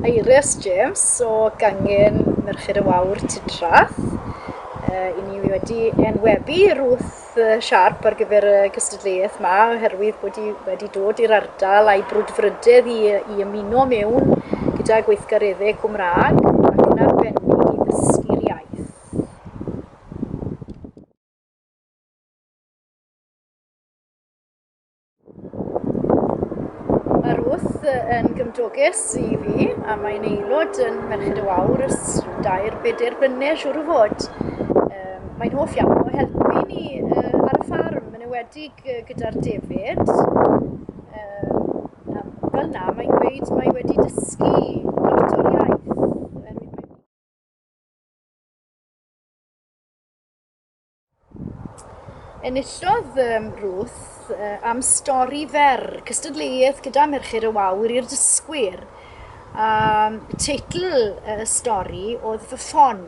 Eirias James o gangen Merched y Wawr Tudrath. Uh, I ni wedi enwebu Ruth siarp ar gyfer y cystadleuaeth yma oherwydd bod i wedi dod i'r ardal a'i brwdfrydedd i, i ymuno mewn gyda gweithgareddau Cymraeg ac yn arbennig i ddysgu'r iaith. Mae Ruth yn gymdoges i fi a mae'n aelod yn Merched y Wawr ers dair bedair blynedd siwr o fod. Um, mae'n hoff iawn o helpu ni uh, ar y ffarm yn ewedig uh, gyda'r defyd. Um, fel na, mae'n gweud mae wedi dysgu Enillodd um, Ruth uh, am stori fer, cystadleuaeth gyda Merched y Wawr i'r dysgwyr. Um, teitl y uh, stori oedd fy ffon.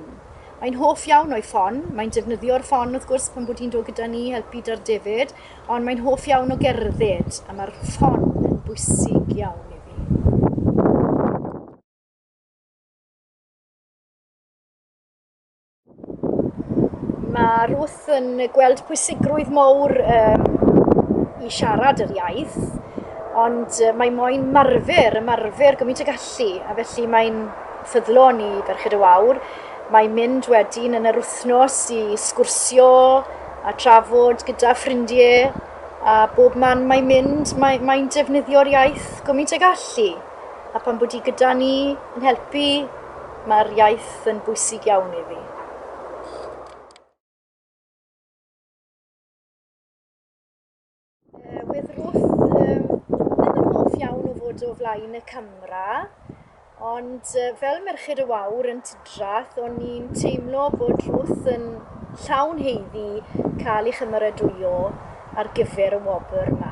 Mae'n hoff iawn o'i ffon, mae'n defnyddio'r ffon wrth gwrs pan bod hi'n dod gyda ni helpu dar David, ond mae'n hoff iawn o gerdded, a mae'r ffon yn bwysig iawn i fi. Mae Ruth yn gweld pwysigrwydd mawr um, i siarad yr iaith, ond uh, mae moyn marfer, ymarfer gymaint y gallu, a felly mae'n ffyddlon i Ferched y Wawr. Mae mynd wedyn yn yr wythnos i sgwrsio a trafod gyda ffrindiau, a bob man mae'n mynd, mae'n mae defnyddio'r iaith gymaint y gallu. a phan bod hi gyda ni yn helpu, mae'r iaith yn bwysig iawn i fi. bod o flaen y camera, ond fel merched y wawr yn Tidrath, o'n i'n teimlo bod Ruth yn llawn heiddi cael ei chymeradwyo ar gyfer y wobr yma.